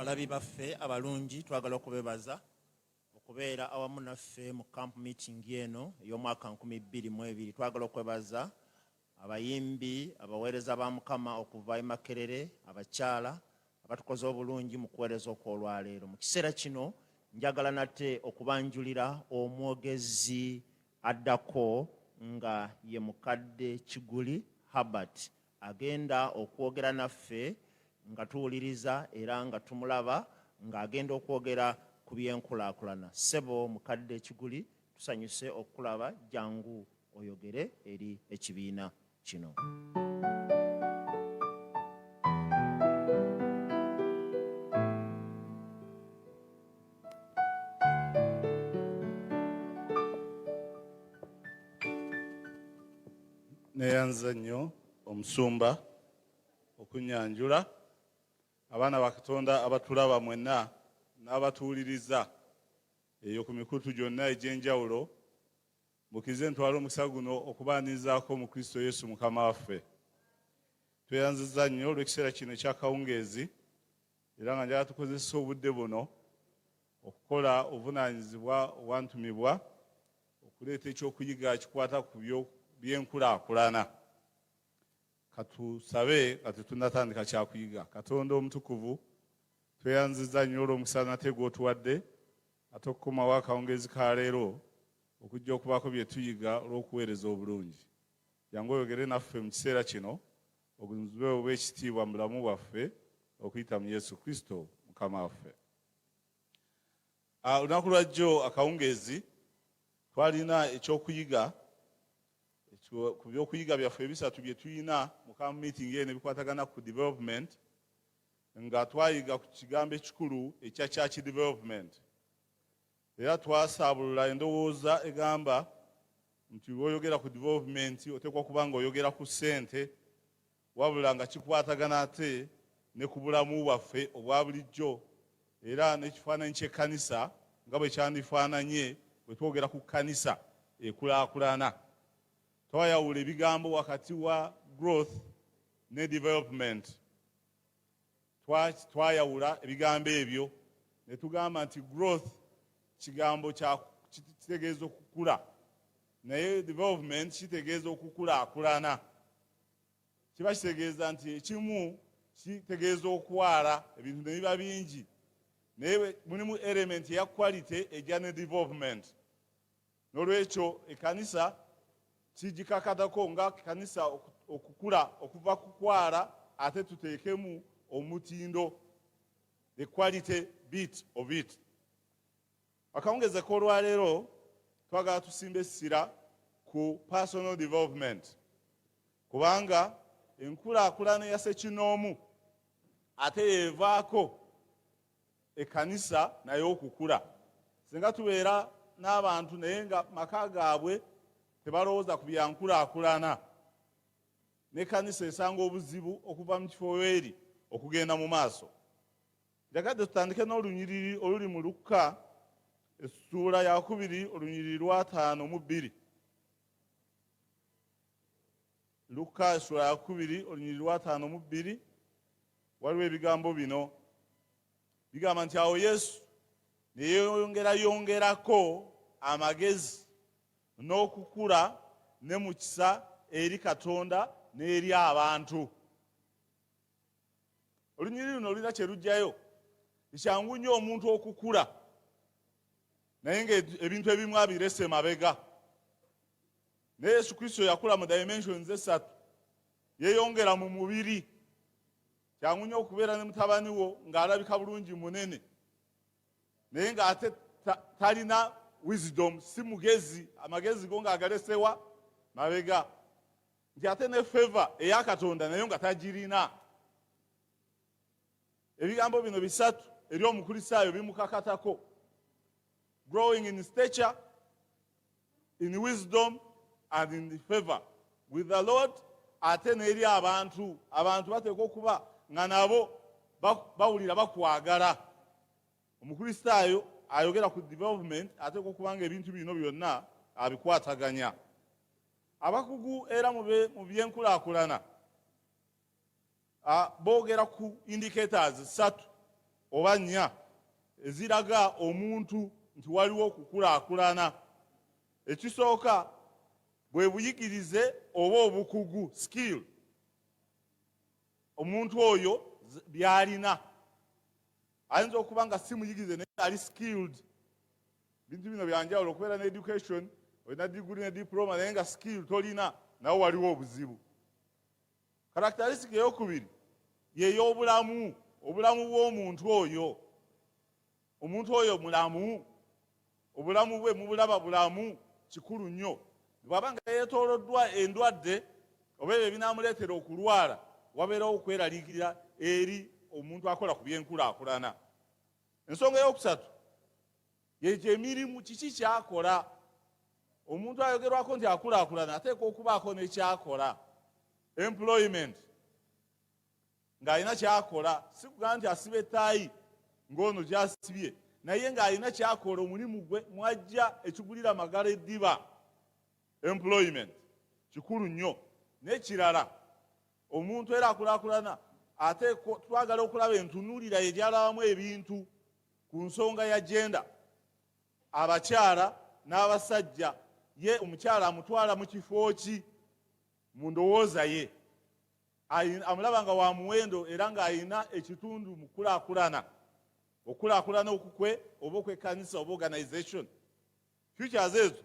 abalabi baffe abalungi twagala okubebaza okubeera awamu naffe mu camp meeting eno ey'omwaka 22 twagala okwebaza Abayimbi, abaweereza ba Mukama okuva e Makerere, abakyala abatukoze obulungi mu kuweereza okw'olwaleero. Mu kiseera kino njagala nate okubanjulira omwogezi addako nga ye mukadde Kiguli Herbert agenda okwogera naffe nga tuwuliriza era nga tumulaba ng'agenda okwogera ku byenkulaakulana. Ssebo mukadde Kiguli Tusanyuse okukulaba jangu oyogere eri ekibiina kino. Neyanza nnyo omusumba okunyanjula abaana ba Katonda abatulaba mwenna n'abatuwuliriza Eyo ku mikutu gyonna egy'enjawulo, mukize ntwala omukisa guno okubaanirizaako mu Kristo Yesu Mukama waffe. Tweyanziza nnyo olw'ekiseera kino eky'akawungeezi era nga njala tukozesa obudde buno okukola obuvunaanyizibwa obwantumibwa okuleeta ekyokuyiga kikwata ku by'enkulaakulana. Katusabe nga tetunnatandika kyakuyiga. Katonda omutukuvu, tweyanziza nnyo olw'omukisa nate gw'otuwadde ate okukomawo akawungeezi ka leero okujja okubaako bye tuyiga olw'okuweereza obulungi. Jangu oyogere naffe mu kiseera kino, ogunzube oba ekitiibwa mu bulamu bwaffe okuyita mu Yesu Kristo mukama waffe. Ah, olunaku lwa jjo akawungeezi twalina ekyokuyiga ku byokuyiga byaffe ebisatu bye tulina mu kamu meeting eno ebikwatagana ku development nga twayiga ku kigambo ekikulu ekya church development era twasaabulula endowooza egamba nti lwoyogera ku development oteekwa kuba nga oyogera ku ssente wabula nga kikwatagana ate ne ku bulamu bwaffe obwa bulijjo era n'ekifaananyi ky'ekkanisa nga bwe kyandifaananye bwe twogera ku kkanisa ekulaakulana. Twayawula ebigambo wakati wa growth ne development. Twayawula ebigambo ebyo ne tugamba nti growth kigambo kitegeeza okukula naye development kitegeeza okukulaakulana. kiba kitegeeza nti ekimu kitegeeza okwala ebintu ne biba bingi naye mulimu element eya quality ejja ne development n'olwekyo ekanisa kigikakatako nga kanisa okukula okuva ku kwala ate tuteekemu omutindo the quality bit of it Akawungezi k'olwaleero twagala tusimba essira ku personal development kubanga enkulaakulana ya ssekinnoomu ate yeevaako ekkanisa naye okukula singa tubeera n'abantu naye nga maka gaabwe tebalowooza ku byankulaakulana n'ekkanisa esanga obuzibu okuva mu kifo weeri okugenda mu maaso njagadde tutandike n'olunyiriri oluli mu lukka essuula yakubiri olunyiriri lwataano mu bbiri lukka essuula yakubiri olunyiriri lwataano mu bbiri waliwo ebigambo bino bigamba nti awo yesu neyeyongerayongerako amagezi n'okukula ne mukisa eri katonda n'eri abantu olunyiriri luno olulina kye lugjayo kyangu nnyo omuntu okukula naye ngaebintu ebimu abirese mabega naye yesu kristo yakula mu dimensions esatu yeyongera mu mubiri kyangu nnyo okubeera ne mutabani wo ng'alabika bulungi munene naye ng'ate talina wisdom si mugezi amagezi go ng'agalesewa mabega nti ate ne feva eya katonda nayo nga tagirina ebigambo bino bisatu eri omukristaayo bimukakatako growing in stature in wisdom and in favor with the lord ate n'eri abantu abantu bateekwa okuba nga nabo bawulira bakwagala omukristaayo ayogera ku development ateekwa okuba nga ebintu bino byonna abikwataganya Abakugu era mu byenkulakulana boogera ku indicators ssatu oba nnya eziraga omuntu nti waliwo okukulakulana. Ekisooka bwe buyigirize oba obukugu skill omuntu oyo byalina ayinza okuba nga si muyigirize naye ali skilled bintu bino byanjawulo okubeera ne education olina diguli ne diploma naye nga skill tolina nawe waliwo obuzibu karakteristic eyokubiri yeyobulamu obulamu bwomuntu oyo omuntu oyo mulamu obulamu bwe mubulaba bulamu kikulu nnyo bwaba nga yetoloddwa endwadde oba ebyo ebinamuleetera okulwala wabeerawo okweraliikirira eri omuntu akola ku byenkulaakulana ensonga eyokusatu egyo emirimu kiki kyakola omuntu ayogerwako nti akulaakulana ateeka okubaako nekyakola employment ng'alina kyakola sikuga nti asiba etaayi ng'ono gyasibye naye ng'alina kyakola omulimu gwe mwajja ekigulira magala eddiba employment kikulu nnyo nekirala omuntu era akulaakulana ate twagala okulaba entunulira ye gyalabamu ebintu Ku nsonga ya jenda, abakyala n'abasajja, ye omukyala amutwala mu kifo ki mu ndowooza ye? Amulaba nga wa muwendo era ng'alina ekitundu mu kulaakulana, okulaakulana okukwe oba okw'ekkanisa oba organization. Futures ezo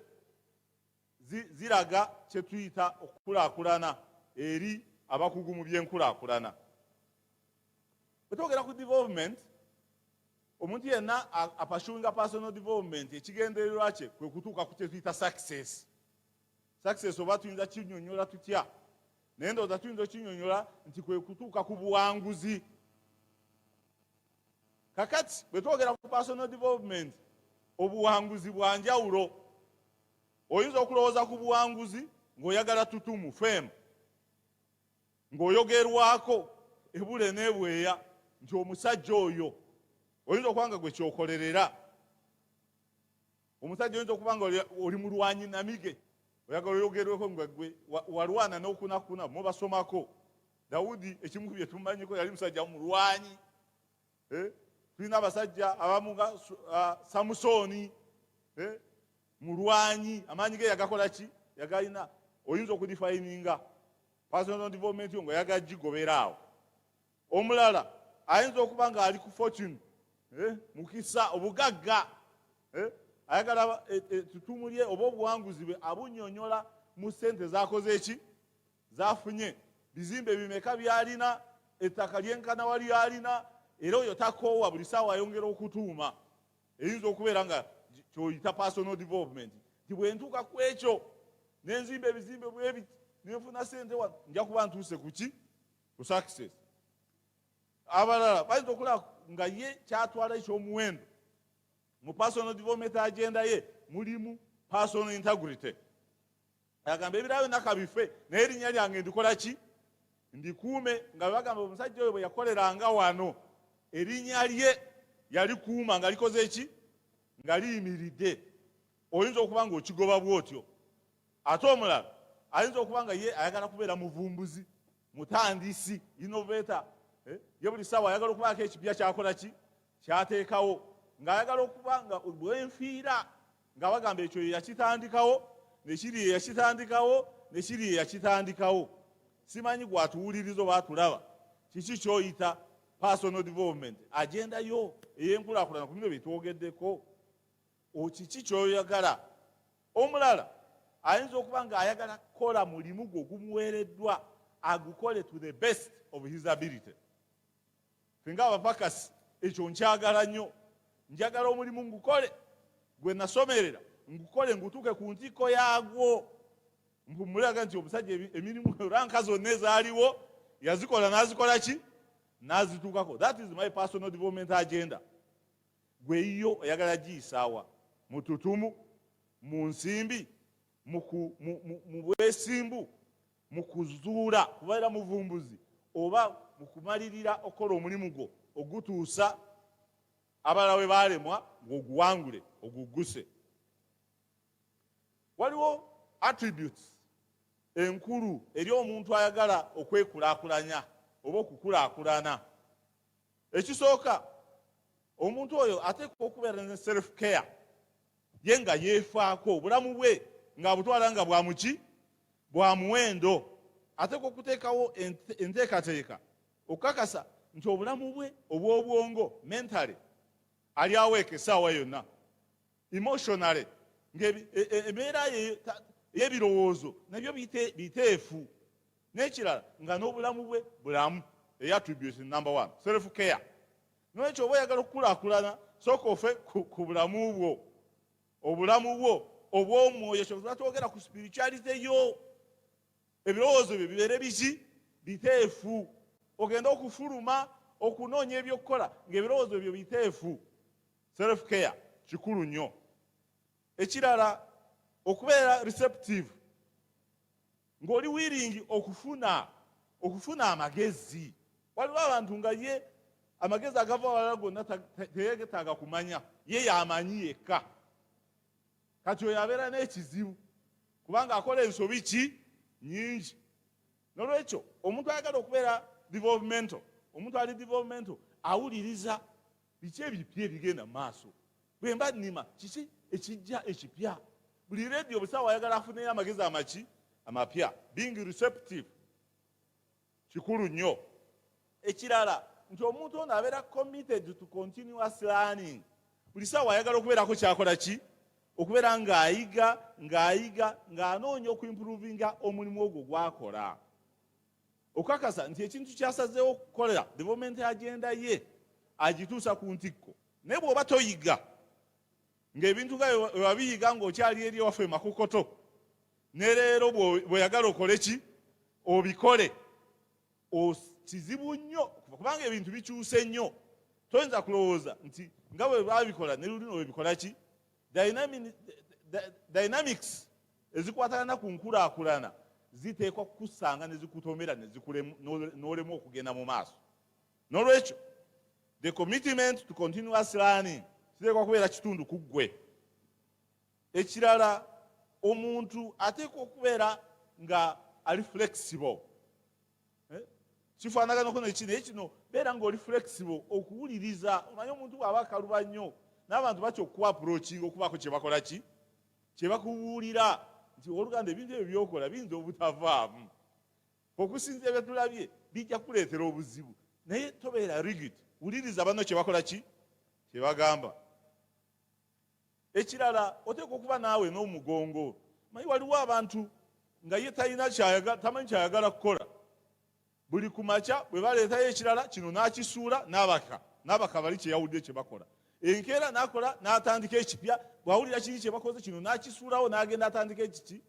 ziraga kye tuyita okukulaakulana eri abakugu mu byenkulaakulana. Bwe twogera ku development, omuntu yenna apashuinga personal development ekigendererwa kye kwe kutuuka ku kye tuyita success. Success oba tuyinza kinyonyola tutya? Naye ndowooza tuyinza okinyonyola nti kwe kutuuka ku buwanguzi. kakati bwe twogera ku personal development obuwanguzi bwa njawulo oyinza okulowooza ku buwanguzi ng'oyagala tutumu femu ng'oyogerwako ebule n'ebweya nti omusajja oyo oyinza okuba nga gwe kyokolerera omusajja oyinza okuba nga oli mulwanyi namige oyagala oyogerweko nga gwe walwana nokunakuna mubasomako dawudi ekimu ku byetumanyiko yali musajja mulwanyi eh? tulina abasajja abamuga ah, samusooni eh? mulwanyi amaanyi ge yagakola ki yagalina oyinza okudifayininga personal development yo nga yagajigobera awo omulala ayinza okuba ng'ali ku fortune eh, mukisa obugagga eh, ayagala ettutumu eh, lye oba obuwanguzi bwe abunyonyola mu sente zakoze eki zafunye bizimbe bimeka byalina ettaka lyenkana wali alina era oyo takoowa buli saawa ayongera okutuuma eyinza okubeera nga kyoyita personal development nti bwentuuka ku ekyo nenzimba ebizimbe bwebi nenfuna sente wa nja kuba ntuuse kuki ku success abalala bayinza okulaba nga ye kyatwala ekyomuwendo mu personal development agenda ye mulimu personal integrity agamba ebirala byonna kabife naye erinnya lyange ndikola ki ndikuume nga bagamba omusajja oyo bwe yakoleranga wano erinnya lye yalikuuma nga likoze ki nga liyimiridde oyinza okuba nga okigoba bwotyo Ate omulala ayinza okuba nga ye ayagala kubeera muvumbuzi, mutandisi, innovator. Eh? Ye buli ssaawa ayagala okubaako ekipya kyakola ki kyateekawo, ng'ayagala okuba nga bwenfiira nga bagamba ekyo ye yakitandikawo, nekiri ye yakitandikawo, nekiri ye yakitandikawo. Simanyi gwatuwuliriza oba atulaba, kiki kyoyita personal development, agendayo ey'enkulakulana ku bino byetwogeddeko. okiki kyoyagala omulala ayinza okuba nga ayagala kukola mulimu gwo gumuweereddwa agukole to the best of his ability singa abapakasi ekyo nkyagala nnyo njagala omulimu ngukole gwe nasomerera ngukole ngutuuke ku ntikko yaagwo mpumulaga nti omusajja emirimu ranka zonna ezaaliwo yazikola nazikola ki nazituukako that is my personal development agenda Gwe eyiyo oyagala giyisaawa? Mu tutumu? Mu nsimbi? Mu bwesimbu? Mu kuzuula kubeera muvumbuzi? Oba mu kumalirira okukola omulimu gwo ogutuusa abalala we baalemwa ng'oguwangule ogugguse? Waliwo attributes enkulu eri omuntu ayagala okwekulaakulanya oba okukulaakulana. ekisooka omuntu oyo ateekwa okubeera ne self care ye nga yeefaako obulamu bwe ng'abutwala nga bwamuki bwa muwendo ateekwa okuteekawo enteekateeka okukakasa nti obulamu bwe obw'obwongo mentale ali aweeka essaawa yonna emotionally ng'embeera e, e, y'ebirowoozo nabyo biteefu n'ekirala nga n'obulamu bwe bulamu eya attributes number one self care nolwekyo oba oyagala okukulaakulana sooka ofe ku bulamu bwo obulamu bwo obw'omwoyo kyova twogera ku spirituality yo ebirowoozo byo bibeere biki biteefu ogende okufuluma okunoonya ebyokukola ng'ebirowoozo byo biteefu Self care kikulu nnyo. Ekirala okubeera receptive ng'oli wiringi okufuna okufuna amagezi. Waliwo abantu nga ye amagezi agava wala gonna teyegetaaga kumanya ye yamanyi yekka. Kati oyo abeera n'ekizibu kubanga akola ensobi ki nyingi. Nolwekyo omuntu ayagala okubeera developmental, omuntu ali developmental awuliriza biki ebipya ebigenda mu maaso bwe mba nnima kiki ekijja ekipya buli leediyo obusawo ayagala afuneyo amagezi amaki amapya being receptive kikulu nnyo ekirala nti omuntu ono abeera committed to continuous learning buli saawa ayagala okubeerako kyakola ki okubeera ng'ayiga ng'ayiga ng'anoonya okuimprovinga omulimu ogwo gwakola okukakasa nti ekintu kyasazeewo okukolera development agenda ye agituusa ku ntikko naye bw'oba toyiga ng'ebintu nga wewabiyiga ng'okyali eri ewaffe emakokoto ne leero bweyagala okole ki obikole kizibu nnyo kubanga ebintu bikyuse nnyo toyinza kulowooza nti nga bwe babikola ne lulino webikola ki dynamics ezikwatagana ku nkulaakulana ziteekwa kukusanga ne zikutomera ne zikulemu n'olemu okugenda mu maaso n'olwekyo the commitment to continuous learning kiteekwa kubeera kitundu ku ggwe ekirala omuntu ateekwa okubeera nga ali flexible eh? kifaanaganako neki naye kino beera ngaoli flexible okuwuliriza omanye omuntu bwaba akaluba nnyo n'abantu batya okukuba aprokinga okubaako kyebakola ki kyebakubuulira nti oluganda ebintu ebyo byokola biyinza obutavaamu okusinza ebyetulabye bijja kuleetera obuzibu naye tobeera rigid wuliriza banno kyebakola ki kyebagamba ekirala oteekwa okuba naawe n'omugongo manyi waliwo abantu nga ye talina tamanyi kyayagala kukola buli ku makya bwe baleetayo ekirala kino n'akisuula n'abaka n'abaka bali kyeyawulidde kye bakola enkeera n'akola n'atandika ekipya bwawulira kiri kye bakoze kino n'akisuulawo n'agenda atandika ekiki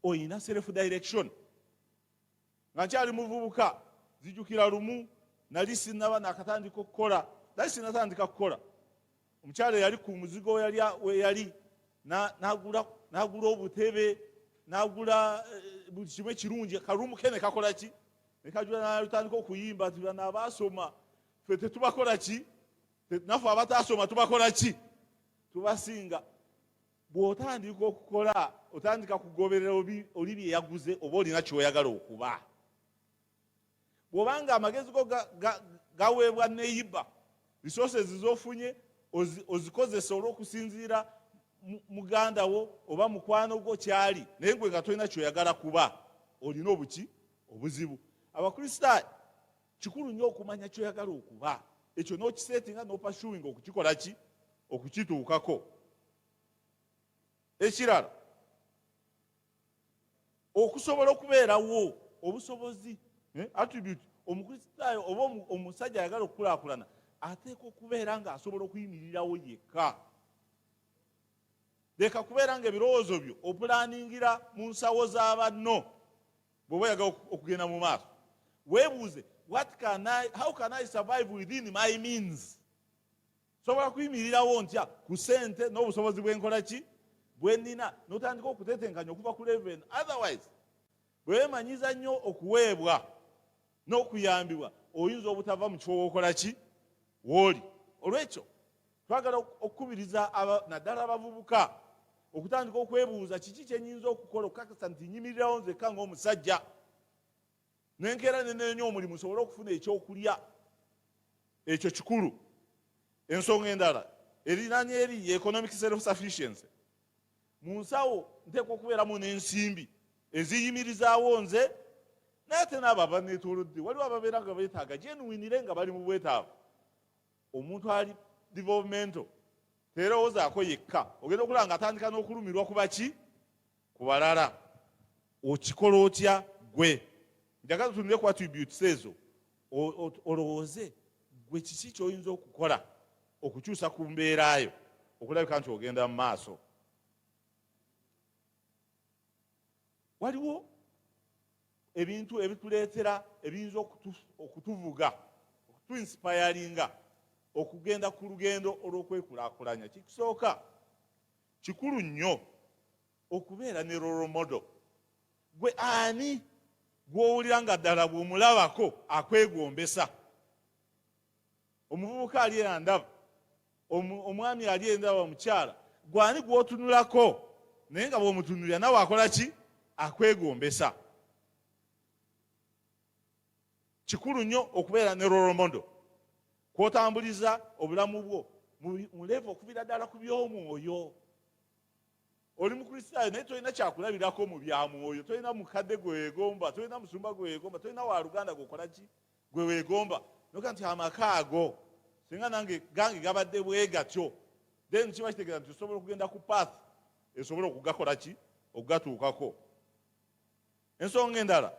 olina self direction nga nkyali muvubuka zijukira lumu nali sinaba nakatandika okukola nali sinatandika kukola omukyala yali ku muzigo weyali nagula obutebe nagula eh, buli kimu ekirungi kalumu ke nekakola ki nekajula nalutandika okuyimba ti bana abasoma fe tetubakola ki nafe abatasoma tubakola ki tubasinga Bw'otandika okukola otandika kugoberera oli bye yaguze oba olina ky'oyagala okuba. Bw'obanga amagezi go gaweebwa neyiba, resources z'ofunye ozikozesa olw'okusinziira muganda wo oba mukwano gwo kyali naye gwe nga tolina kyoyagala kuba olina obuki obuzibu abakristaayo kikulu nnyo okumanya kyoyagala okuba ekyo nokisetinga nopashuwinga okukikola ki okukituukako ekirala okusobola okubeerawo obusobozi eh, attribute omukristaayo oba omusajja ayagala okukulakulana ateeka okubeera nga asobola okuyimirirawo yekka leka kubeera nga ebirowoozo byo opulaningira mu nsawo z'abanno bw'oba oyagala okugenda mu maaso weebuuze what can I, how can I survive within my means sobola kuyimirirawo ntya ku sente n'obusobozi bwenkola ki bwenina notandika okutetenkanya okuva ku leven otherwise bwewemanyiza nnyo okuweebwa n'okuyambibwa oyinza obutava mu kifo wokola ki wooli olwekyo twagala okukubiriza naddala abavubuka okutandika okwebuuza kiki kyenyinza okukola okukakasa nti nyimirirawo nzekka ngaomusajja nenkeera nenenya omulimu nsobole okufuna ekyokulya ekyo kikulu ensonga endala erinanya eri economic self sufficiency mu nsawo nteekwa okubeeramu n'ensimbi eziyimirizaawo nze naye ate naabo abaneetolodde waliwo ababeera nga beetaaga gyenwinire nga bali mu bwetaavu omuntu ali developmento teerowoozaako yekka ogenda okulaba nga atandika n'okulumirwa ku baki ku balala okikola otya gwe njagala tunire ku attributes ezo olowooze gwe kiki kyoyinza okukola okukyusa ku mbeera yo okulabika nti ogenda mu maaso waliwo ebintu ebituleetera ebiyinza okutuvuga okutuinsipayalinga okugenda ku lugendo olw'okwekulakulanya kikisooka kikulu nnyo okubeera ne roromodo gwe ani gw'owulira nga ddala bw'omulabako akwegombesa omuvubuka ali endaba omwami ali endaba omukyala gwani gwotunulako naye nga bwomutunulira nawe akola ki akwegombesa kikulu nnyo okubeera ne roromodo kwotambuliza obulamu bwo muleeva okubira ddala ku by'omwoyo oli mukristaayo naye tolina kyakulabirako mu bya mwoyo tolina mukadde gwewegomba tolina musumba gwewegomba tolina waluganda gwokolaki gwe wegomba noga nti amaka ago singa nange gange gabadde bwegatyo then kiba kitegeeza nti osobola okugenda ku path esobola okugakola ki okugatuukako ensonga endala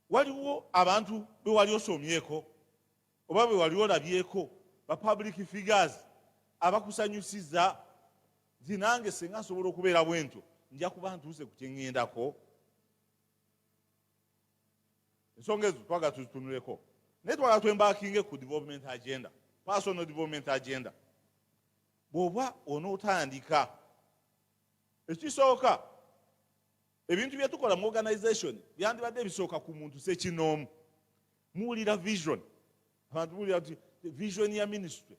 waliwo abantu bewali osomyeko oba bewali olabyeko ba public figures abakusanyusiza nti nange singa nsobola okubeera bwentyo nja kuba ntuuse ku kyeŋŋendako ensonga ezo twagala tuzitunuleko naye twagala twembakinge ku development agenda personal development agenda bw'oba onootandika ekisooka ebintu bye tukola mu organization byandibadde bisooka ku muntu sekinoomu muwulira vision abantu muwulira ti vision ya ministry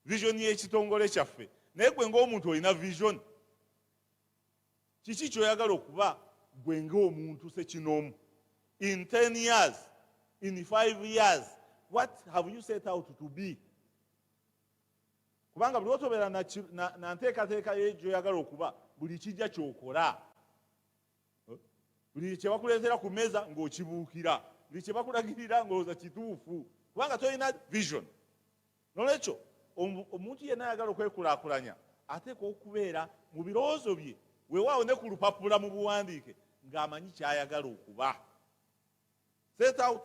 vision y'ekitongole kyaffe naye gwe ng'omuntu olina vision kiki kyoyagala okuba gwe ngaomuntu sekinoomu in 10 years in 5 years what have you set out to be kubanga buli otobeera na nteekateeka yegyoyagala okuba buli kijja kyokola buli kyebakuleetera ku meeza ng'okibuukira buli kyebakulagirira ng'oza kituufu kubanga tolina vision N'olwekyo omuntu yenna ayagala okwekulaakulanya ateekwa okubeera mu birowoozo bye weewaawo ne ku lupapula mu buwandiike ng'amanyi ky'ayagala okuba set out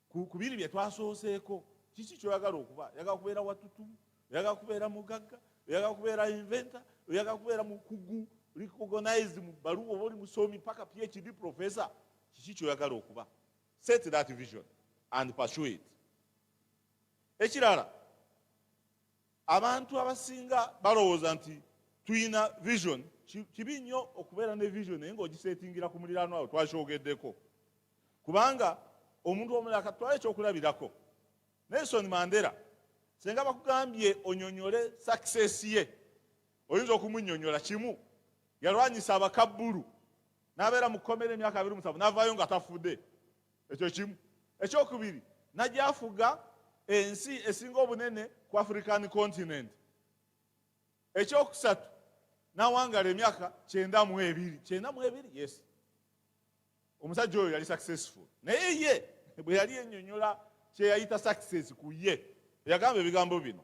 ku biri bye twasooseeko kiki kyoyagala okuba oyagala kubeera watutumu oyagala kubeera mugagga oyagala kubeera inventa oyagala kubeera mukugu recognized mu baluwa oba oli musomi paka phd professor kiki kyoyagala okuba Set that vision and pursue it. Ekirala abantu abasinga balowooza nti tulina vision kibi nnyo okubeera ne vision naye ng'ogiseetingira ku muliraano awo twakyogeddeko kubanga omuntu omulala katwala ekyokulabirako nelson mandera senga bakugambye onyonyole success ye oyinza okumunyonyola kimu yalwanyisa abakabbulu n'abeera mu kkomera emyaka abiri musanvu n'avaayo nga tafudde ekyo kimu ekyokubiri nagyafuga ensi esinga obunene ku african continent ekyokusatu nawangala emyaka kyenda mu ebiri kyenda mu ebiri yes omusajja oyo yali successful naye ye bwe yali enyonyola kyeyayita success ku ye yagamba ebigambo bino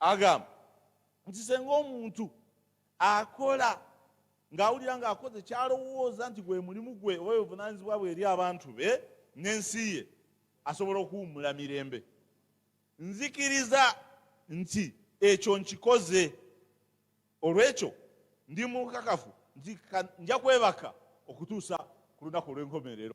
agamba nti senga omuntu akola ng'awulira ng'akoze kyalowooza nti gwe mulimu gwe oba buvunanyizibwa bwe eri abantu be n'ensi ye asobola okuwummula mirembe nzikiriza nti ekyo nkikoze olw'ekyo ndi mukakafu nti nja kwebaka okutuusa ku lunaku olw'enkomerero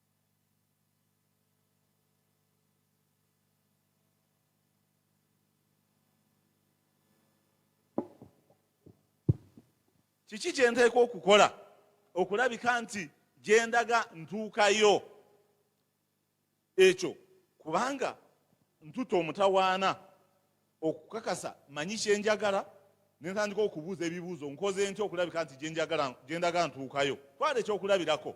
kiki kye nteeka okukola okulabika nti gye ndaga ntuukayo ekyo kubanga ntuta omutawaana okukakasa manyi kye njagala nentandika okubuuza ebibuuzo nkoze ntya okulabika nti gye ndaga ntuukayo twala ekyokulabirako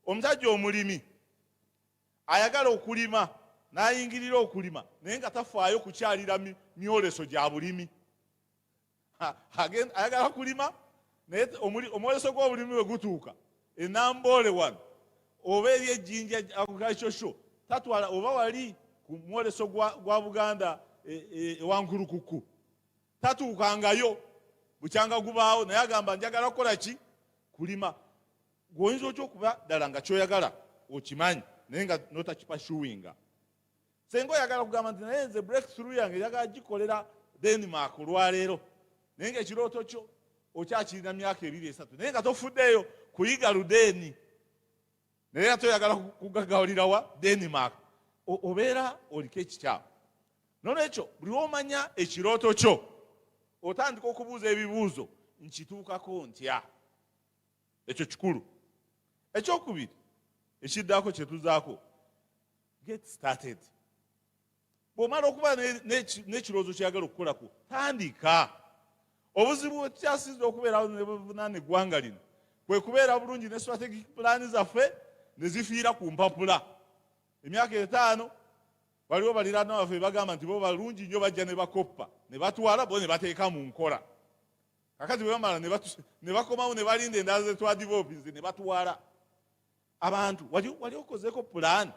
omusajja omulimi ayagala okulima n'ayingirira okulima naye nga tafaayo kukyalira myoleso gya bulimi ayagala kulima naye omwoleso gw'obulimi bwe gutuuka enamboole wano oba eri ejjinja agriculture show tatwala oba wali ku mwoleso gwa buganda ewankulukuku e, e, tatuukangayo bukyanga gubaawo naye agamba njagala kukola ki kulima gwe oyinza otya okuba ddala nga kyoyagala okimanyi naye nga notakipashuwinga senga oyagala kugamba nti naye nze breakthrough yange yagala gikolera denmark olwaleero naye nga ekirooto kyo okyakirina myaka ebiri esatu naye nga tofuddeeyo kuyiga ludeeni naye nga toyagala kugagawulirawa denmark obeera oliko ekikyamu nolwekyo buli womanya ekirooto kyo otandika okubuuza ebibuuzo nkituukako ntya ekyo kikulu ekyokubiri ekiddako kyetuzaako get started bwomala okuba n'ekirowoozo kyeyagala okukolako tandika obuzibu bwekikyasinza okubeerawo nebuvunana eggwanga lino kwe kubeera bulungi ne strategic pulaani zaffe ne zifiira ku mpapula emyaka etaano waliwo baliraana baffe bagamba nti bo balungi nnyo bajja ne bakoppa ne batwala bo ne bateeka mu nkola kakati bwe bamala ne bakomawo ne balinda endala ze twadivoopinze ne batwala abantu wali okozeeko pulaani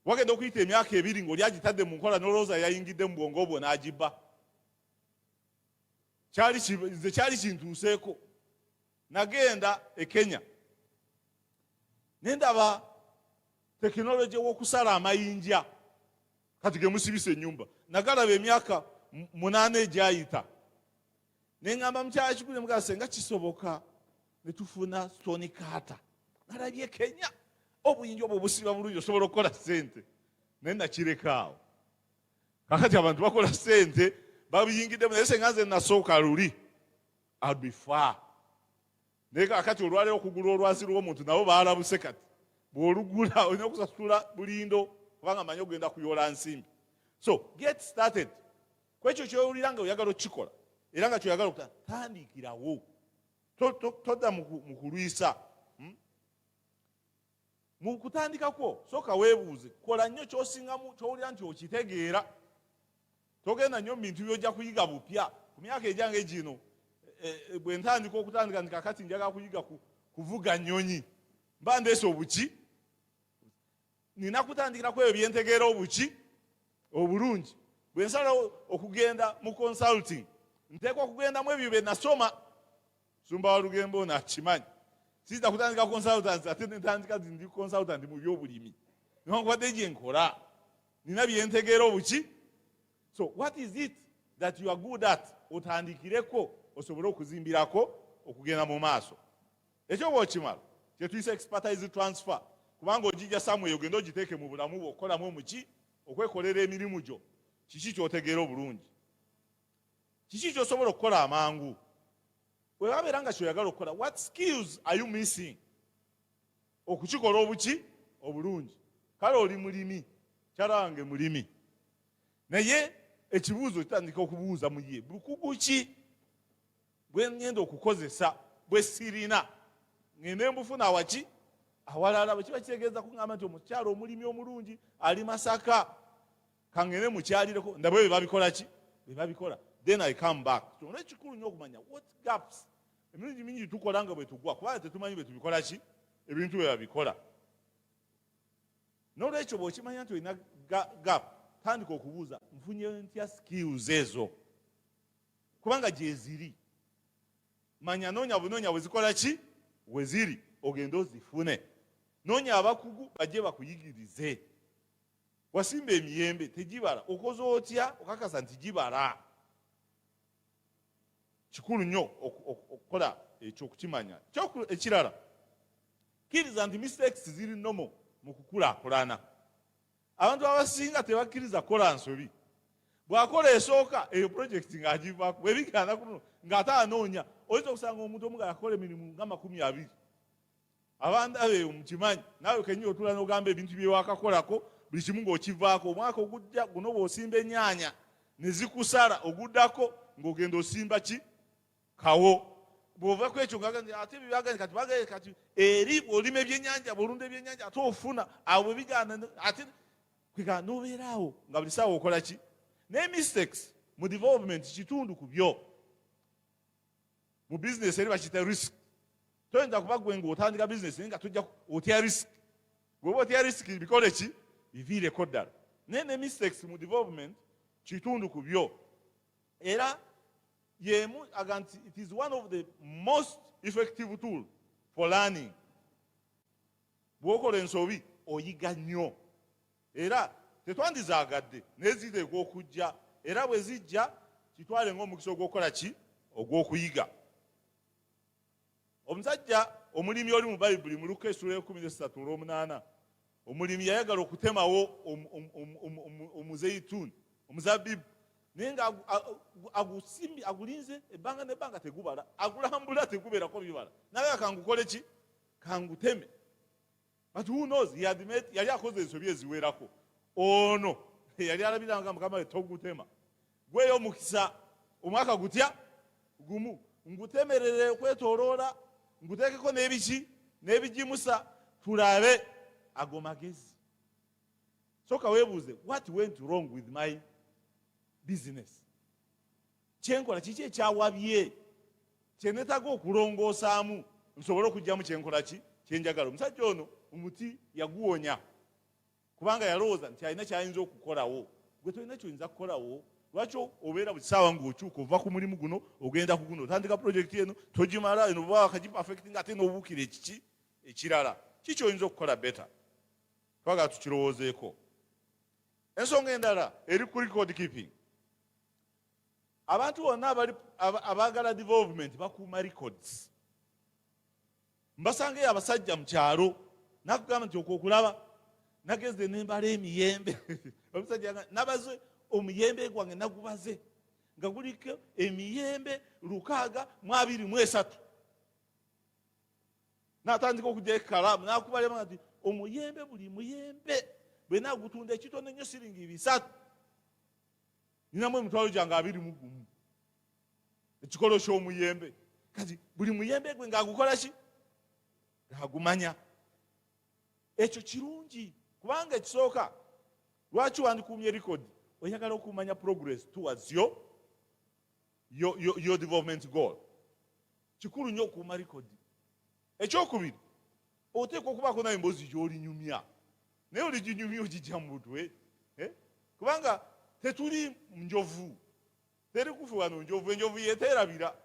wagenda okuyita emyaka ebiri ngaoli agitadde mu nkola nolowooza yayingidde mu bwongo obwo n'agibba nze kyali kintuuseeko nagenda e kenya nendaba tekinologi w'okusala amayinja kati gemusibisa enyumba nagalaba emyaka munaana egyayita neŋamba mukyala kigule mugaa senga kisoboka netufuna stoni kaata nalabye kenya obuyinja obwo obusiba bulungi osobola okukola sente naye nakirekaawo kakati abantu bakola sente babiyingiddemu naye senga nze nasooka luli abifa naye kakati olwaleero okugula olwazi lw'omuntu nabo baalabuse kati bw'olugula olina okusasula bulindo kubanga manyi ogenda kuyoola nsimbi so get started ku ekyo kyowulira nga oyagala okukikola era nga kyoyagala okuta tandikirawo todda mu kulwisa mu kutandika kwo sooka weebuuze kola nnyo kyosingamu kyowulira nti okitegeera togenda nnyo mu bintu byojja kuyiga bupya ku myaka egyange gino e, e, bwe ntandika okutandika nti kakati njaga kuyiga kuvuga nnyonyi mba ndeesa obuki nina kutandikira kweyo byentegeera obuki obulungi bwe nsalawo okugenda mu consulting nteekwa okugendamu ebyo bye nasoma Sumba wa Lugembe ono akimanyi. Siyinza kutandika consultancy ate ne ntandika nti ndi consultant mu byobulimi. Newankubadde gye nkola nina bye ntegeera obuki. So what is it that you are good at otandikireko osobole okuzimbirako okugenda mu maaso. Ekyo bw'okimala kye tuyisa expertise transfer kubanga ogijja somewhere ogende ogiteeke mu bulamu bwo okukolamu omuki okwekolera emirimu gyo kiki ky'otegeera obulungi. kiki kyosobola okukola amangu webabeera nga kyoyagala okukola what skills are you missing okukikola obuki obulungi kale oli mulimi kyala wange mulimi naye ekibuuzo kitandika okubuuza muye bukugu ki bwengenda okukozesa bwesirina ngende mbufuna awaki awalala bwekiba kitegeeza kuŋamba nti omukyalo omulimi omulungi ali masaka kangende mukyalireko ndabe bwe babikola ki bwe babikola then i come back kyona ekikulu nyo okumanya what gaps emirundi mingi tukola nga bwe tugwa kubanga tetumanyi bwe tubikola ki ebintu bwe babikola nolwekyo bwokimanya nti olina gap tandika okubuuza nfunye ntya skills ezo kubanga gyeziri manya noonya bunoonya bwezikola ki weziri ogende ozifune noonya abakugu bajje bakuyigirize wasimba emiyembe tegibala okoze otya okakasa nti gibala kikulu nnyo okukola ekyo okukimanya ekirala kkiriza nti mistakes ziri nomo mu kukulakulana abantu abasinga tebakkiriza kukola nsobi bwakola esooka eyo project ng'agivako bwebigana kuno ng'ate anoonya oyinza okusanga omuntu omugala akola emirimu nga makumi abiri abandabe omukimanyi naawe kenyini otula nogamba ebintu byewakakolako buli kimu ngaokivaako omwaka ogujja guno bwosimba enyaanya nezikusala oguddako ngaogenda osimba ki kawo bwova kwekyo ate byagani kati bagee kati eri olima ebyenyanja bwolunda ebyenyanja ate ofuna awo bwebigana ate kwega nobeeraawo nga buli saawa okola ki naye mistakes mu development kitundu ku byo mu bizinesi eri bakiyita risk toyinza kuba gwe ngaotandika bizinesi naye nga tujja otya risk gweoba otya risk bikole ki biviireko ddala naye ne mistakes mu development kitundu ku byo era yemu aga nti it is one of the most effective tool for learning bwokola ensobi oyiga nnyo era tetwandizaagadde naye ziteekwa okujja era bwe zijja kitwale ng'omukisa ogw'okukola ki ogw'okuyiga omusajja omulimi oli mu bayibuli mu luka esula ekumi nesatu olwomunaana omulimi yayagala okutemawo omuzeituni omuzabibu naye nga agusimbi agulinze ebbanga nebbanga tegubala agulambula tegubeerako bibala naye kangukoleki kanguteme but who knows he had made yali akoze ensobi eziwerako ono yali alabira nga mukama we togutema gweyo omukisa omwaka gutya gumu ngutemerere okwetoloola nguteekeko n'ebiki n'ebigimusa tulabe ago magezi soka weebuuze what went wrong with my business kyenkola kiki ekyawabye kyenetaga okulongoosaamu nsobole okugyamu kyenkola ki kyenjagala omusajja ono omuti yaguwonya kubanga yalowooza nti alina kyayinza okukolawo gwe tolina kyoyinza kukolawo lwaki obeera buli saawa ngaokyuka ova ku mulimu guno ogenda ku guno otandika pulojekiti eno togimala eno oba wakagipafekiti nga ate nobuukira ekiki ekirala kikyoyinza okukola beta twagala tukirowoozeeko Ensonga endala eri ku record keeping. Abantu bonna abaagala development bakuuma records. Mbasangeyo abasajja mu kyalo nakugamba nti okwokulaba nageze nembala emiyembe omusajja nabaze omuyembe gwange nagubaze nga guliko emiyembe lukaaga mu abiri mu esatu natandika okugya ekalaamu nakubalema nti omuyembe buli muyembe bwena agutunda ekitono ennyo siringi bisatu ninamu emitwalo gyange abiri mu gumu ekikolo ky'omuyembe kati buli muyembe gwe ngaagukola ki ngaagumanya ekyo kirungi kubanga ekisooka lwaki wandikuumye likodi oyagala okumanya progress towards yo yo, yo, yo development goal kikulu nnyo okuuma likodi ekyokubiri oteekwa okubaako naye emboozi gyolinyumya naye oliginyumya ogijja mu butwe eh? kubanga tetuli njovu teri kufe wano njovu enjovu yeteerabira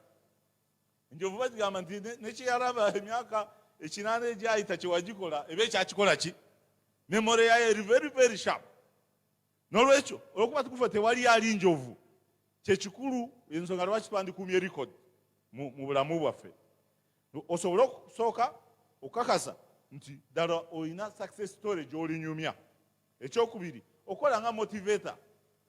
enjovu bagigamba nti nekyeyalaba emyaka ekinaana egyayita kyewagikola eba ekyakikola ki memore yayo eri very very sharp n'olwekyo olwokuba tukufa tewali ali njovu kyekikulu ensonga lwaki twandikuumye record mu bulamu bwaffe osobole okusooka okukakasa nti ddala olina success story gy'olinyumya ekyokubiri okola nga motivator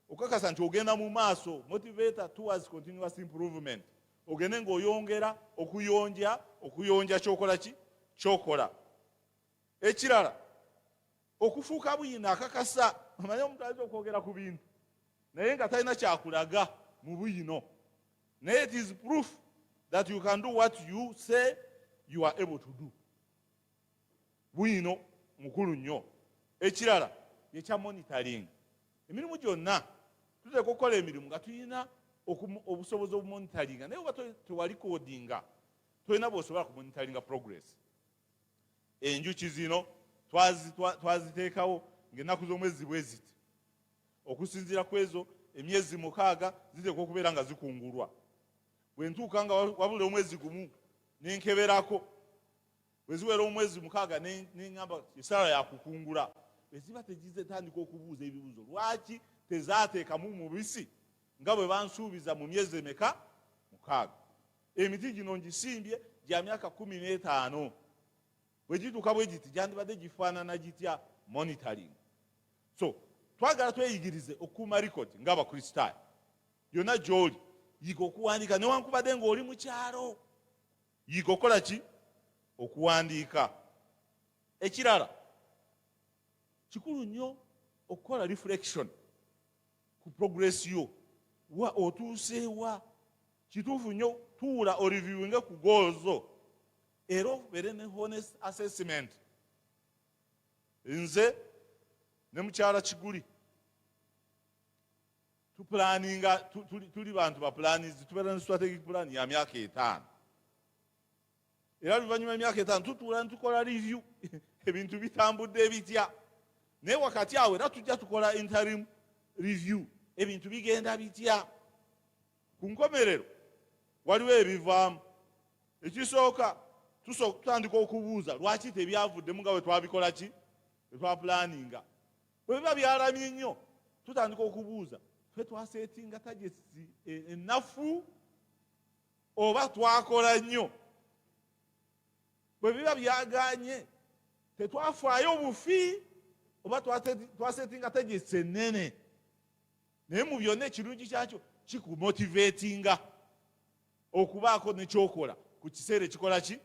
okukakasa nti ogenda mu maaso motivator towards continuous improvement ogende ng'oyongera okuyonja okuyonja kyokola ki kyokola ekirala okufuuka buyino akakasa omanye omuntu ayinza okwogera ku bintu naye nga talina kyakulaga mu buyino naye it is proof that you can do what you say you are able to do buyino mukulu nnyo ekirala yekya monitoring emirimu gyonna tuteeka okukola emirimu nga tulina obusobozi obumonitaringa naye oba tewali kodinga tolina bwosobola kumonitaringa progress enjuki zino twaziteekawo ng'ennaku z'omwezi bwe ziti okusinziira ku ezo emyezi mukaaga ziteekwa okubeera nga zikungulwa bwe ntuuka nga wabula omwezi gumu nenkeberako bwe ziwera omwezi mukaaga neŋamba esaala yakukungula bwe ziba tegizitandika okubuuza ebibuuzo lwaki tezateekamu mubisi nga bwe bansuubiza mu myezi emeka mukaaga emiti gino ngisimbye gya myaka kumi n'etaano bwe gituuka bwe giti gyandibadde gifaanana gitya monitoring so twagala tweyigirize okukuuma likodi ngaabakristaayo yonna gy'oli yiga okuwandiika newankubadde ng'oli mu kyalo yiga okukola ki okuwandiika ekirala kikulu nnyo okukola reflection ku progress yo wa otuuseewa kituufu nnyo tuula oriviwinge ku goozo era obeere ne honest assessment nze ne mukyala kiguli tupulaninga tuli bantu bapulanizi tubeera ne strategic plan ya myaka etaano era luvannyuma emyaka etaano tutuula nitukola review ebintu bitambudde bitya naye wakati awo era tujja tukola interim review ebintu bigenda bitya ku nkomerero waliwo ebivaamu ekisooka tutandika okubuuza lwaki tebyavuddemu nga wetwabikola ki wetwapulaninga bwebiba byalamye nnyo tutandika okubuuza fe twasetinga tagesi enafu e, oba twakola nnyo bwe biba byaganye tetwafaayo obufi oba twasetinga tegesi ennene naye mu byonna ekirungi kyakyo kikumotivetinga okubaako nekyokola ku kiseera ekikola ki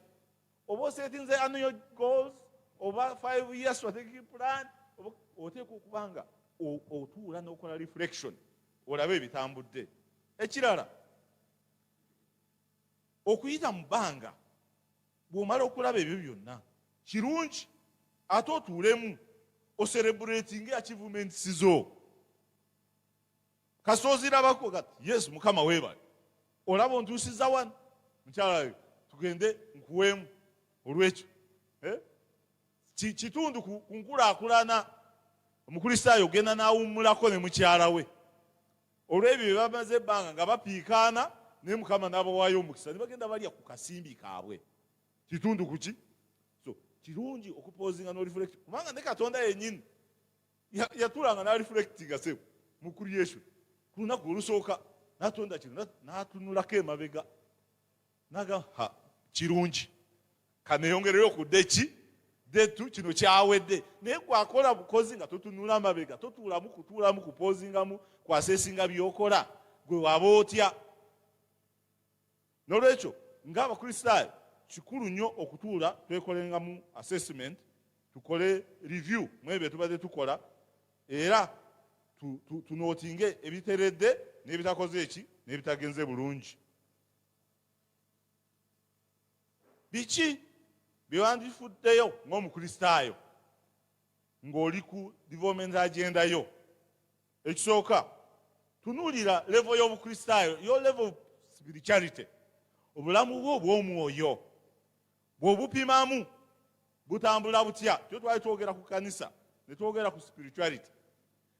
oba osetinze annual goals oba five year strategic plan oteeka okuba nga otuula n'okola reflection olabe ebitambudde ekirala okuyita mu bbanga bw'omala okulaba ebyo byonna kirungi ate otuulemu oserebuletinga eachievements zo kasita ozirabako gati yesu mukama weebale olaba ontuusiza wano mukyala yo tugende nkuweemu olwekyo eh? kitundu ku nkulaakulana omukristaayo ogenda n'awummulako ne mukyala we olw'ebyo bye bamaze ebbanga nga bapiikaana naye mukama n'abawaayo omukisa ne bagenda balya ku kasimbi kaabwe kitundu ku ki so kirungi okupoozinga n'orefulekti kubanga ne katonda yennyini yatulanga n'arefulektinga sebo mu creation ku lunaku olusooka natonda kino n'atunulako emabega naga ha kirungi kaneyongerere okudde ki detu kino kyawedde naye gwakola bukozi nga totunula amabega totuulamu kutuulamu kupozingamu kwasesinga byokola gwe waba otya nolwekyo nga abakristaayo kikulu nnyo okutuula twekolengamu assessment tukole review mwebyo byetubadde tukola era tunootinge ebiteredde n'ebitakoze eki n'ebitagenze bulungi biki byewandifuddeyo ng'omukristaayo ng'oli ku development agenda yo ekisooka tunuulira levo y'obukristaayo yo levo spirituality obulamu bwo obw'omwoyo bw'obupimamu butambula butya tyo twali twogera ku kanisa ne twogera ku spirituality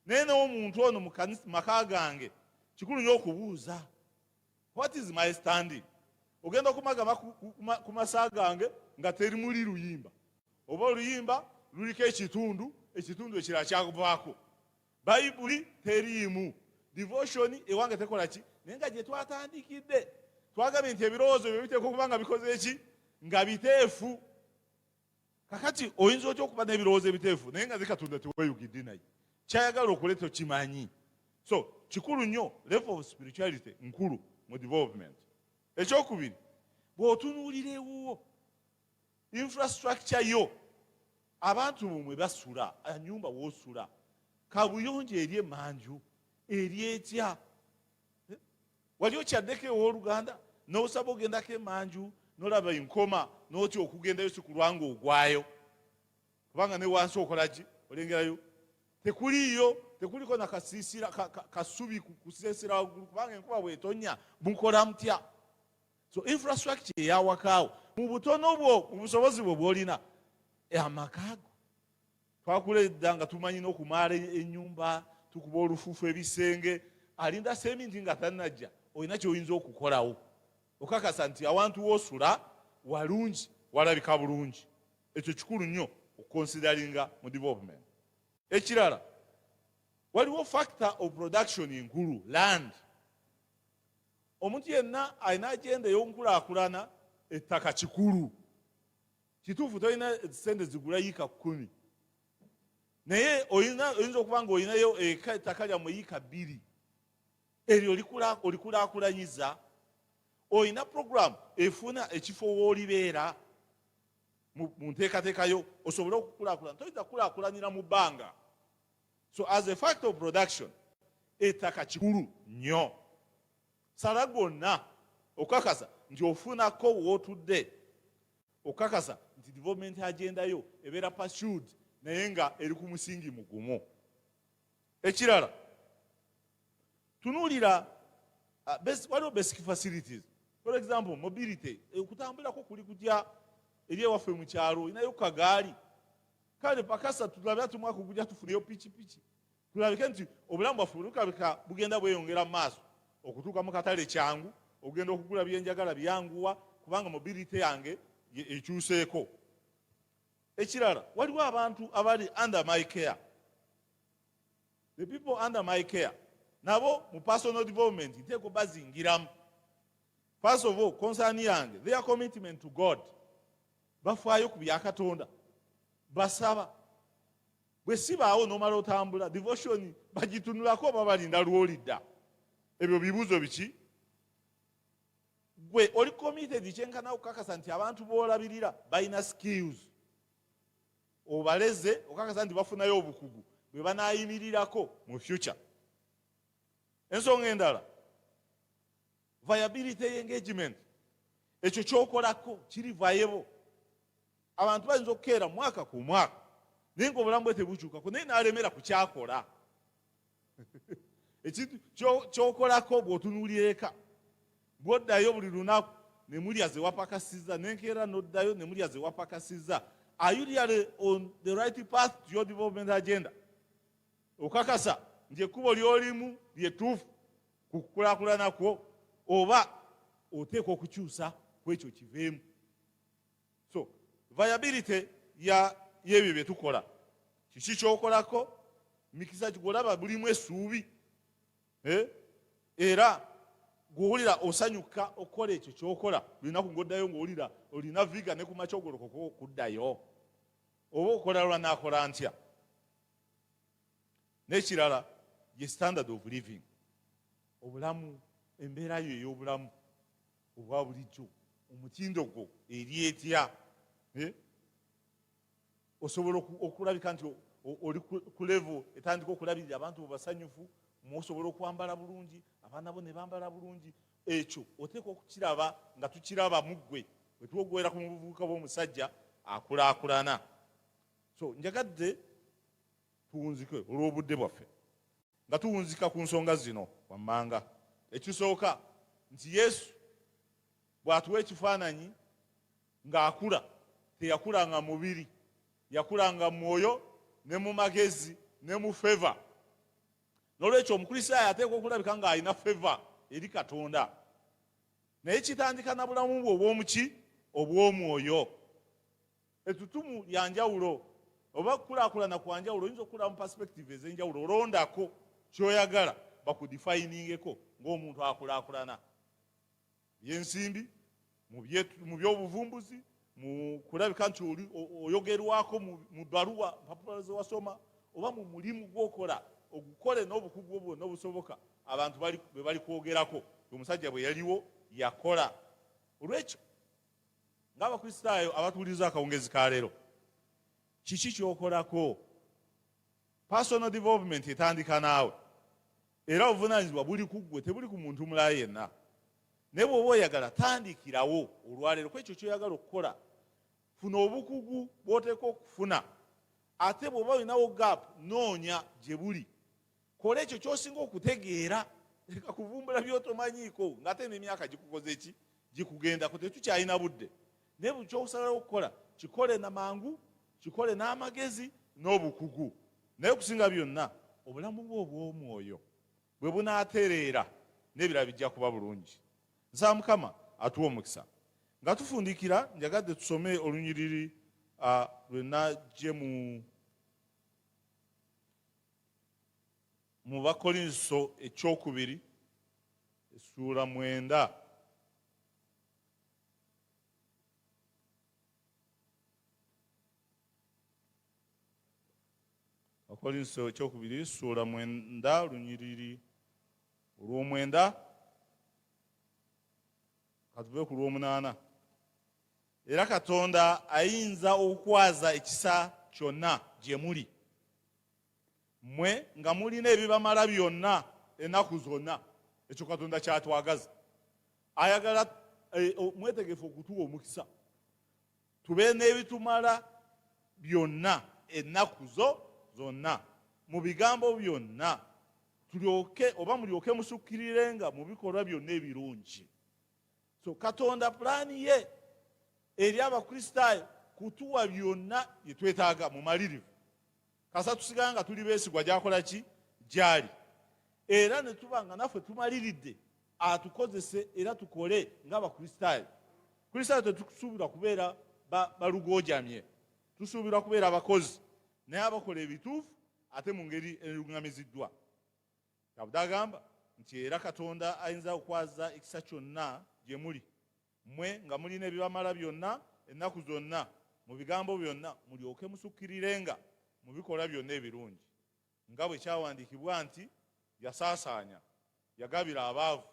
naye n'omuntu ono mu maka gange kikulu nyo okubuuza What is my standing? Ogenda kumagama ku masa gange nga teri muli luyimba oba oluyimba luliko ekitundu ekitundu ekirala kyakuvaako bayibuli teriimu devotion ewange tekola ki naye nga gyetwatandikidde twagambye nti ebirowoozo byo biteekwa okuba nga bikoze ki nga biteefu kakati oyinza otya okuba n'ebirowoozo ebiteefu naye nga zekatonda teweyugidde naye kyayagala okole tokimanyi so kikulu nnyo level of spirituality nkulu mu development ekyokubiri bw'otunuulira ewuwo infrastructure yo abantu bumwe basula enyumba wosula kabuyonjo eri emanju eri etya eh? wali okyaddeko ewoluganda nosaba ogendako emanju nolaba enkoma notya okugendayo sikulwanga ogwayo kubanga newansi okolaki olengerayo tekuliyo tekuliko nakasisira kasubi kusesera waggulu kubanga enkuba bwetonya mukola mutya so infrastructure eyawakaawo mu butono bwo mu busobozi bwo bwolina eh, amakago twakula edda nga tumanyi n'okumaala ennyumba tukuba olufuufu ebisenge alinda seminti nga tanajja olina kyoyinza okukolawo okakasa nti awantu wosula walungi walabika bulungi ekyo kikulu nnyo okukonsidaringa mu development ekirala waliwo factor of production enkulu land omuntu yenna alina agenda ey'onkulakulana ettaka kikulu kituufu tolina sente zigula yiika kumi naye oyinza okuba nga olinayo ettaka lyamu yiika bbiri eryo olikulakulanyiza olina puroguramu efuna ekifo woolibeera mu nteekateekayo osobole okukulakulana toyinza kukulakulanira mu bbanga so as a fact of production ettaka kikulu nnyo sala gonna okukakasa nti ofunako wootudde okukakasa nti development agenda yo ebeera pursued naye nga eri ku musingi mugumu ekirala tunuulira ah, waliwo basic facilities for example mobility eh, okutambulirako kuli kutya eri ewaffe mu kyalo olinayo kagaali kale pakasa tulabira tumwaka ogujja tufuneyo pikipiki tulabike nti obulamu bwaffe bwetukalabika bugenda bweyongera mu maaso okutuuka mu katale kyangu ogenda okugula byenjagala byanguwa kubanga mobility yange ekyuseeko ekirala waliwo abantu abali under my care the people under my care nabo mu personal development nteeko bazingiramu first of all concern yange their commitment to god bafaayo ku byakatonda basaba bwe sibaawo nomala otambula devotion bagitunulako oba balinda lwolidda ebyo bibuuzo biki gwe oli committed kyenkana okukakasa nti abantu boolabirira balina skills obaleze okakasa nti bafunayo obukugu bwe banayimirirako mu future ensonga endala viability engagement ekyo kyokolako kiri vayebo abantu bayinza okukeera mwaka ku mwaka naye nga obulamu bwe tebukyukako naye nalemera kukyakola ekintu kyokolako bwotunuulira eka bwoddayo buli lunaku nemulya zewapakasiza nenkeera noddayo nemulya zewapakasiza are you really on the right path to your development agenda okakasa nti ekkubo lyolimu lyetuufu ku kukulaakulana kwo oba oteekwa okukyusa ku ekyo kiveemu so viability y'ebyo bye tukola kiki kyokolako mikisa gigolaba bulimu esuubi eh? era gwowulira osanyuka okukola ekyo kyokola lunaku ngoddayo ngaowulira olina viga ne kumakya ogolokoka okuddayo oba okola lwanakola ntya n'ekirala ye standard of living obulamu embeera yo ey'obulamu obwa bulijjo omutindo gwo eri etya eh? osobola okulabika nti oli ku levo etandika okulabirira abantu basanyufu muosobola okwambala bulungi abaana bo ne bambala bulungi ekyo oteekwa okukiraba nga tukiraba mu ggwe wetwogwera ku mubuvubuka bw'omusajja akulaakulana so njagadde tuwunzike olw'obudde bwaffe nga tuwunzika ku nsonga zino wammanga ekisooka nti yesu bw'atuwa ekifaananyi ng'akula teyakula nga mubiri yakula nga mwoyo ne mu magezi ne mu feva n'olwekyo omukristaayo ateekwa okulabika ng'alina feva eri katonda naye kitandika na bulamu bwe obw'omuki obw'omwoyo Etutumu lya njawulo oba okukulaakulana kwa njawulo oyinza okukulaba mu perspective ez'enjawulo olondako kyoyagala bakudifayiningeko ng'omuntu akulaakulana byensimbi mu by'obuvumbuzi mu kulabika nti oli oyogerwako mu baluwa mpapula zewasoma oba mu mulimu gwokola ogukole n'obukugu obwo n'obusoboka abantu bwe balikwogerako omusajja bwe yaliwo yakola olwekyo ng'abakristaayo abatuwuliriza akawungezi ka leero kiki kyokolako personal development etandika naawe era obuvunanyizibwa buli ku ggwe tebuli ku muntu mulala yenna naye bw'oba oyagala tandikirawo olwaleero ku ekyo kyoyagala okukola funa obukugu bw'oteeka okufuna ate bw'oba olinawo gap noonya gye buli kola ekyo kyosinga okutegeera leka kuvumbula byotomanyiiko ngaate nemyaka gikukoze ki gikugendako tetukyalina budde naye buli kyokusalawo okukola kikole na mangu kikole n'amagezi n'obukugu naye okusinga byonna obulamu bwe obw'omwoyo bwe bunaatereera n'ebirala bijja kuba bulungi nsaba mukama atuwa omukisa nga tufundikira njagadde tusome olunyiriri lwe najje mu Mu Bakolinso ekyokubiri essuula mwenda Bakolinso ekyokubiri essuula mwenda lunyiriri olw'omwenda katuve ku lw'omunaana Era Katonda ayinza okukwaza ekisa kyonna gye muli mmwe nga mulina ebibamala byonna ennaku zonna. Ekyo Katonda kyatwagaza. Ayagala eh, mwetegefu okutuwa omukisa tube n'ebitumala byonna ennaku zo zonna mu bigambo byonna tulyoke oba mulyoke musukkirirenga mu bikolwa byonna ebirungi so katonda pulaani ye eri abakristaayo kutuwa byonna bye twetaaga mumalirivu kasa tusigala nga tuli beesigwa gyakola ki gyali era ne tuba nga naffe tumaliridde atukozese era tukole ng'abakristaayo kristaayo tetusuubirwa kubeera balugojamye tusuubirwa kubeera abakozi naye abakola ebituufu ate mu ngeri eruŋŋamiziddwa kabuda agamba nti era katonda ayinza okwaza ekisa kyonna gye muli mmwe nga mulina ebibamala byonna ennaku zonna mu bigambo byonna mulyoke musukkirirenga mu bikolwa byonna ebirungi nga bwe kyawandiikibwa nti yasaasaanya yagabira abaavu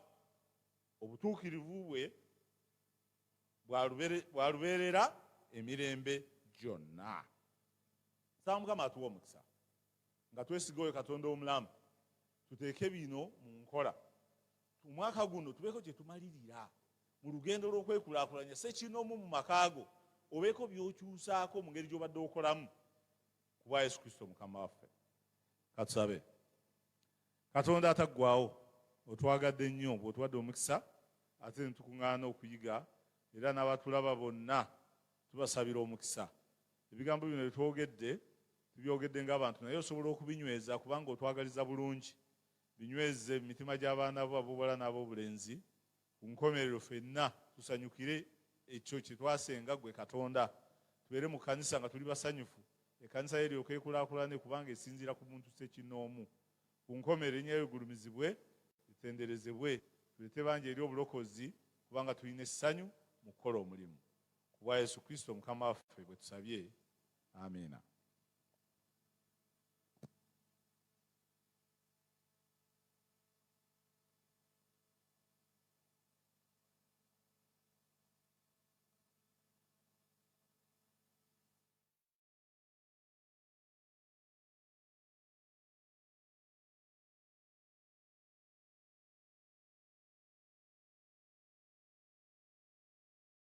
obutuukirivu bwe bwalubeerera emirembe gyonna nsaba mukama atuwa omukisa nga twesiga oyo katonda omulamu tuteeke bino mu nkola omwaka guno tubeeko kyetumalirira mu lugendo lw'okwekulakulanya sekinomu mu makaago obeeko byokyusaako mu ngeri gyobadde okolamu kubwa yesu kristo mukama waffe katusabe katonda ataggwawo otwagadde nnyo bwotuwadde omukisa ate netukuŋŋaana okuyiga era n'abatulaba bonna tubasabira omukisa Ebigambo bino bye twogedde tubyogedde ng'abantu naye osobola okubinyweza kubanga otwagaliza bulungi. Binyweze mu mitima gy'abaana bo ab'obuwala n'ab'obulenzi. Ku nkomerero ffenna tusanyukire ekyo kye twasenga ggwe Katonda. Tubeere mu kkanisa nga tuli basanyufu, ekkanisa yo eryoke ekulaakulane kubanga esinziira ku muntu ssekinnoomu. Ku nkomerero erinnya lyo ligulumizibwe, litenderezebwe. Tuleete bangi eri obulokozi kubanga tulina essanyu mu kukola omulimu. Ku bwa Yesu Kristo Mukama waffe bwe tusabye. Amiina.